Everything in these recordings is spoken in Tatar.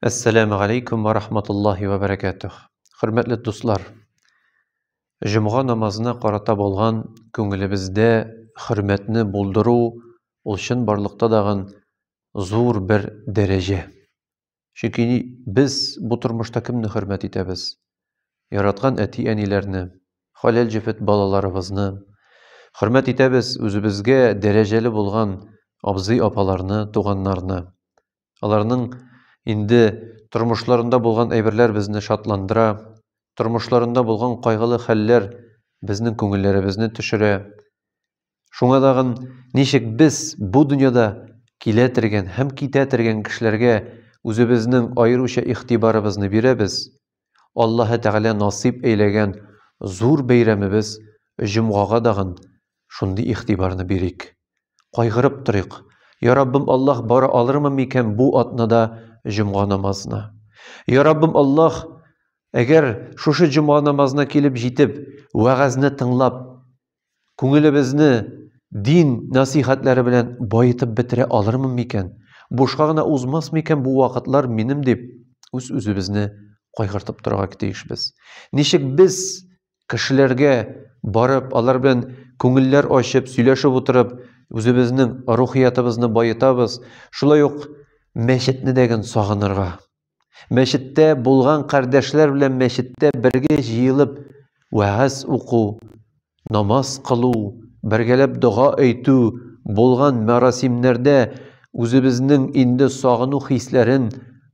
Әссәләмү алейкум ва рахматуллахи ва бәрәкәтүх. Хөрмәтле дуслар, җомга намазына карата булган күңелебездә хөрмәтне булдыру ул чын барлыкта дагын зур бер дәрәҗә. Чөнки без бу тормышта кемне хөрмәт итәбез? яраткан әти-әниләрне, хәләл җефет балаларыбызны, хөрмәт итәбез үзебезгә дәрәҗәле булган абзый-апаларны, туганнарны. Аларның инде тормышларында булган әйберләр безне шатландыра, тормышларында булган кайгылы хәлләр безнең күңелләребезне төшерә. Шуңа тагын ничек без бу дөньяда килә тергән һәм китә тергән кешеләргә үзебезнең аеруча игътибарыбызны бирәбез? Аллаһы Тәгалә насыйп әйләгән зур бәйрәмебез Җомгага дагын шундый игътибарны бирик. Кайгырып торыйк, Я Раббым Аллаһ, бара алырмын микән бу атнада Җомга намазына? Я Раббым Аллаһ, әгәр шушы Җомга намазына килеп җитеп, вәгазьне тыңлап, Күңелебезне дин нәсыйхәтләре белән баетып бетерә алырмын микән? Бушка гына узмас микән бу вакытлар минем дип үз-үзебезне кайгыртып торырга тиешбез. Ничек без кешеләргә барып, алар белән күңелләр ачып, сөйләшеп утырып, үзебезнең рухиятыбызны баетабыз, шулай ук мәчетне дәген сагынырга, Мәчеттә булган кардәшләр белән мәчеттә бергә җыелып вәгазь уку, намаз кылу, бергәләп дога әйтү, булган мәрасимнәрдә үзебезнең инде сагыну хисләрен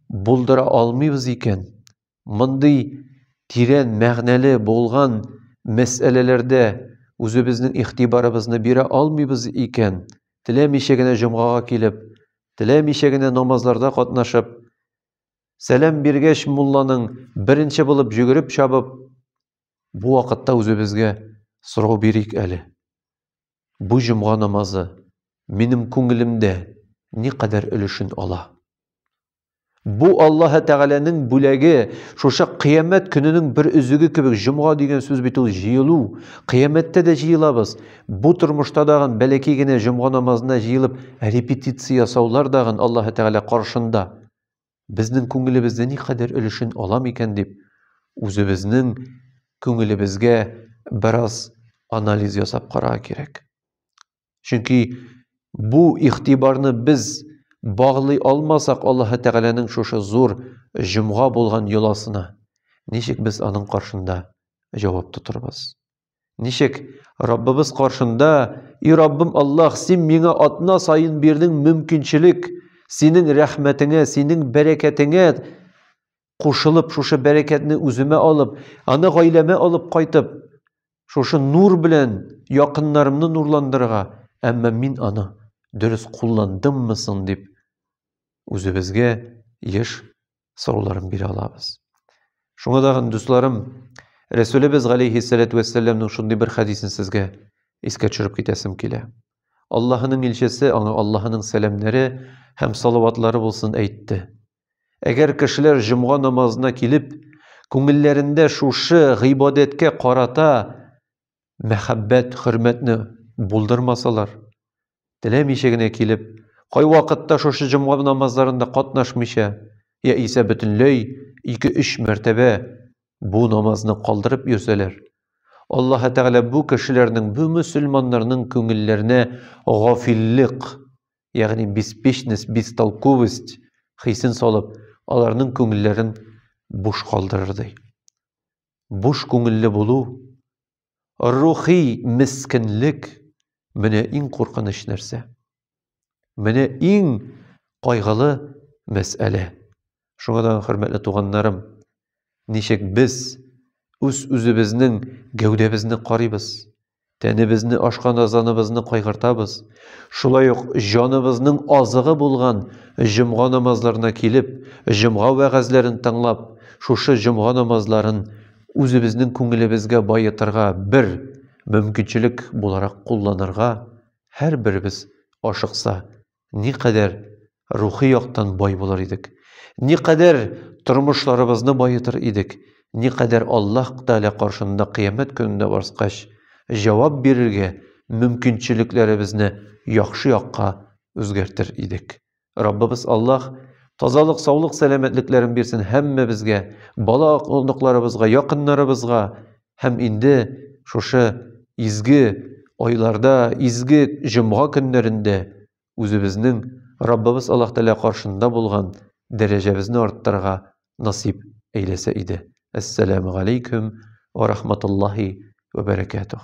булдыра алмыйбыз икән, мондый тирән мәгънәле булган мәсьәләләрдә үзебезнең игътибарыбызны бирә алмыйбыз икән, теләмичә генә җомгага килеп, Теләмичә генә намазларда катнашып, сәлам биргәч, мулланың беренче булып җөгереп чабып, бу вакытта үзебезгә сорау бирик әле. Бу җомга намазы минем күңелемдә никадәр өлешен ала? Бу Аллаһы Тәгаләнең бүләге, шушы кыямәт көненең бер өзеге кебек җомга дигән сүз бит ул җыелу. Кыямәттә дә җыелабыз. Бу тормышта дагын бәләки генә җомга намазына җыелып репетиция ясаулар дагын Аллаһы Тәгалә каршында безнең күңелебездә никадәр өлешен ала микән дип үзебезнең күңелебезгә бераз анализ ясап карарга кирәк. Чөнки бу игътибарны без баглый алмасак Аллаһ Тәгаләнең шушы зур җомга булган йоласына, ничек без аның каршында җавап тотарбыз? Ничек Раббыбыз каршында, "И Раббым Аллаһ, син миңа атна саен бирдең мөмкинчелек, синең рәхмәтеңә, синең бәрәкәтеңә кушылып, шушы бәрәкәтне үземә алып, аны гаиләмә алып кайтып, шушы нур белән якыннарымны нурландырырга, әмма мин аны дөрес кулландыммы соң дип үзебезгә еш сорауларын бирә алабыз. Шуңа да, дусларым, Рәсүлебез галейхиссәләтү вәссәламның шундый бер хәдисен сезгә искә төшереп китәсем килә. Аллаһының илчесе, аңа Аллаһының сәламнәре һәм салаватлары булсын әйтте. Әгәр кешеләр җомга намазына килеп, күңелләрендә шушы гыйбадәткә карата мәхәббәт, хөрмәтне булдырмасалар, теләмичә генә килеп, кайвакытта шушы җомга намазларында катнашмыйча, яисә бөтенләй ике-өч мәртәбә бу намазны калдырып йөрсәләр, Аллаһы Тәгалә бу кешеләрнең, бу мөселманнарның күңелләренә гафиллек, ягъни беспечность, бестолковость хисен салып, аларның күңелләрен буш калдырырдай. Буш күңелле булу, рухи мескенлек менә иң куркыныч нәрсә. Менә иң кайгылы мәсьәлә. Шуңа да, хөрмәтле туганнарым, ничек без үз-үзебезнең гәүдәбезне карыйбыз, тәнебезне, ашкан азаныбызны кайгыртабыз, шулай ук җаныбызның азыгы булган җомга намазларына килеп, җомга вәгазьләрен тыңлап, шушы җомга намазларын үзебезнең күңелебезгә баетырга бер мөмкинчелек буларак кулланырга һәрберебез ашыкса, никадәр рухи яктан бай булыр идек, никадәр тормышларыбызны баетыр идек, никадәр Аллаһ Тәгалә каршында кыямәт көнендә барскач, җавап бирергә мөмкинчелекләребезне яхшы якка үзгәртер идек. Раббыбыз Аллаһ тазалык, саулык, сәламәтлекләрен бирсен һәммәбезгә, бала-оныкларыбызга, якыннарыбызга, Һәм инде шушы изге айларда, изге җомга көннәрендә үзебезнең Раббыбыз Аллаһ Тәгалә каршында булган дәрәҗәбезне арттырырга насыйп әйләсә иде. Әссәламү галәйкүм ва рахматуллаһи ва бәрәкәтүһ.